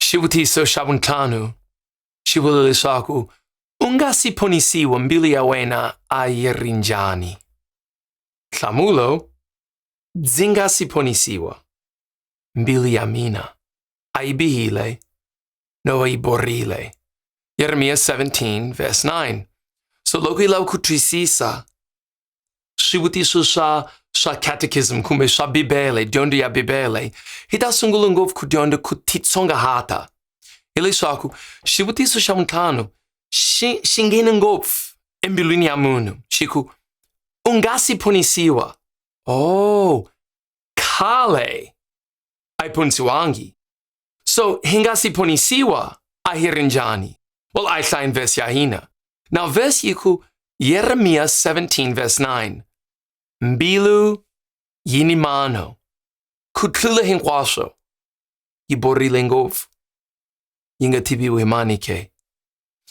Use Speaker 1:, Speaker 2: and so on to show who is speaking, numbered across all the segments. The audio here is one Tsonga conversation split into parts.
Speaker 1: xivutiso xa vuntlhanu xi vula leswaku u nga si phonisiwa mbilu ya wena a yi ri njhani nhlamulo ndzi nga si phonisiwa mbilu ya mina a yi bihile no va yi borile yeremiya 17 verse 9 so loko yi lava ku twisisa swivutiso swa swa catechism kumbe swa bibele dyondzo ya bibele hi ta sungula ngopfu ku dyondza ku titsongahata hileswaku xivutiso xa mintlhanu xi xi nghene ngopfu embilwini ya munhu xi ku u nga si phonisiwa oh khale a yi phonisiwangi So hi nga si ponisiwa a hi ri njhani? Well, a hi hlayeni vhesi ya hina. Now vhesi yi ku Yeremiya 17 verse 9 Mbilu yi ni mano, ku tlula hinkwaswo, yi borile ngopfu, yi nga tiviwi hi mani ke.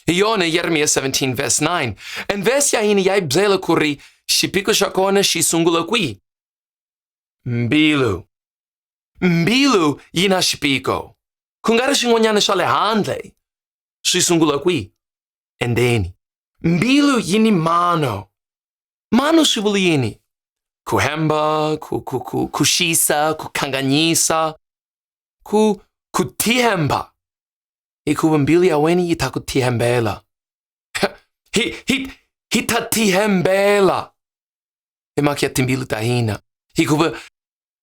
Speaker 1: Hi yona Yeremiya 17 verse 9 and vhesi ya hina ya yi byela ku ri xiphiqo xa kona xi sungula kwihi? Mbilu. Mbilu yi na xipiko. Ku nga ri swin'wanyana swa le handle. Swi sungula kwihi? Endzeni. Mbilu yi ni mano. Mano swi vula yini? Ku hemba, ku, ku, ku, ku xisa, ku khanganyisa, ku, ku tihemba. Hikuva mbilu ya wena yi ta ku tihembela. Hi, hi, hi ta tihembela. Hi mhaka ya timbilu ta hina. Hikuva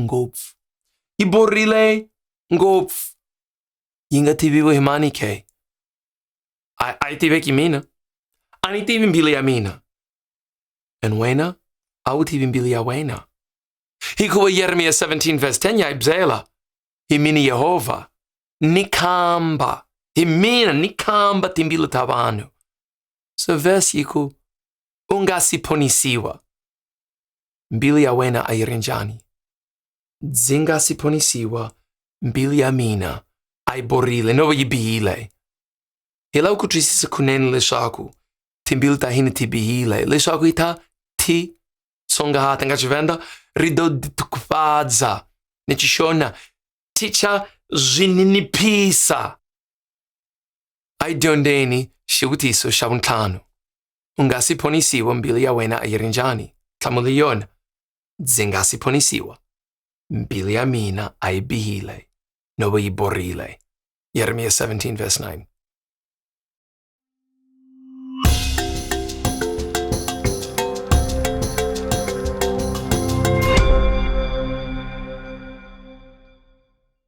Speaker 1: ngopfu yi borile ngopfu yi nga tiviwi hi mani ke a a yi tiveki mina a ni tivi mbilu ya mina and wena a wu tivi mbilu ya wena hikuva yeremiya 17 vs 10 ya yi byela hi mina yehovha ni khamba hi mina ni khamba timbilu ta vanhu so vhesi yi ku u nga si phonisiwa mbiri ya wena a yi ri njhani ndzi nga si ponisiwa mbiri ya mina a yi borile no va yi bihile hi lava ku twisisa kunene leswaku timbilu ta hina ti bihile leswaku yi ta ti tsongahata nga xivenda ri do tikufadza ni xixona ti cha zwi niniphisa a yi dyondzeni xivutiso xa vuntlhanu U nga si ponisiwa mbilu ya wena a yi ri njhani? Nhlamulo yona, Ndzi nga si ponisiwa. Mbilu ya mina a yi bihile, no va yi borile. Yeremiya 17 verse 9.